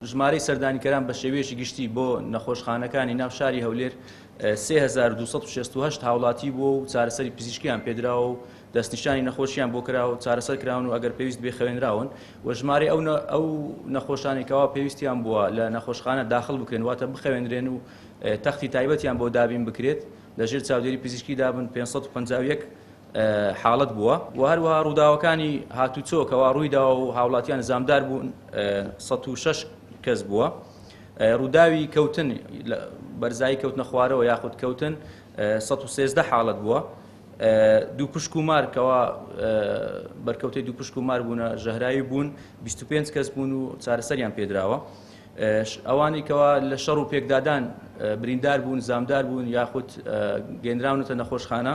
ژمارەی سەردانیکەران بە شێوەیەکی گشتی بۆ نەخۆشخانەکانی ناو شاری هەولێر سێ هەزار و دوو سەد و شەست و هەشت هاوڵاتی بووە و چارەسەری پزیشکیان پێدراوە و دەستنیشانی نەخۆشیان بۆ کراوە و چارەسەر کراون و ئەگەر پێویست بێ خەوێنراون و ژمارەی ئەو نە- ئەو نەخۆشانی کەوا پێویستیان بووە لە نەخۆشخانە داخل بکرێن واتە بخەوێنرێن و تەختی تایبەتیان بۆ دابین بکرێت لەژێر چاودێری پزیشکی دابن پێنج سەد و پەنجا و یەک حاڵەت بووە و هەروەها ڕووداوەکانی هاتوچۆ کەوا ڕوویداوە و هاوڵاتیان زامدار بوون سەد و شەش کەس بووە ڕووداوی کەوتن بەرزایی کەوتنە خوارەوە یاخود کەوتن سەد و سێزدە حاڵەت بووە دوو پشک و مار کەوا بەرکەوتەی دوو پشک و مار بوونە ژەهراوی بوون 25 کەس بوون و چارەسەریان پێدراوە ئەوانی کەوا لە شەڕ و پێکدادان بریندار بوون زامدار بوون یاخود گەنراونەتە نەخۆشخانە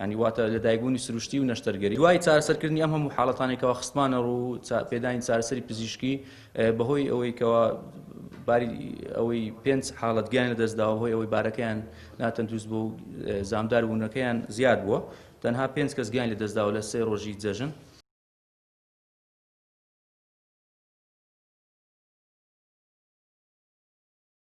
یانی واتە لەدایکبوونی سروشتی و نەشتەرگەری دوای چارەسەرکردنی ئەم هەموو حاڵەتانەی کەوا خستمانە ڕوو پێدانی چارەسەری پزیشکی بەهۆی ئەوەی کەوا باری ئەوەی پێنج حاڵەت گیان لەدەستداوە هۆی ئەوەی بارەکەیان ناتەندروست بۆ زامدار بوونەکەیان زیاد بووە تەنها پێنج کەس گیان لەدەستداوە لە سێ ڕۆژی جەژن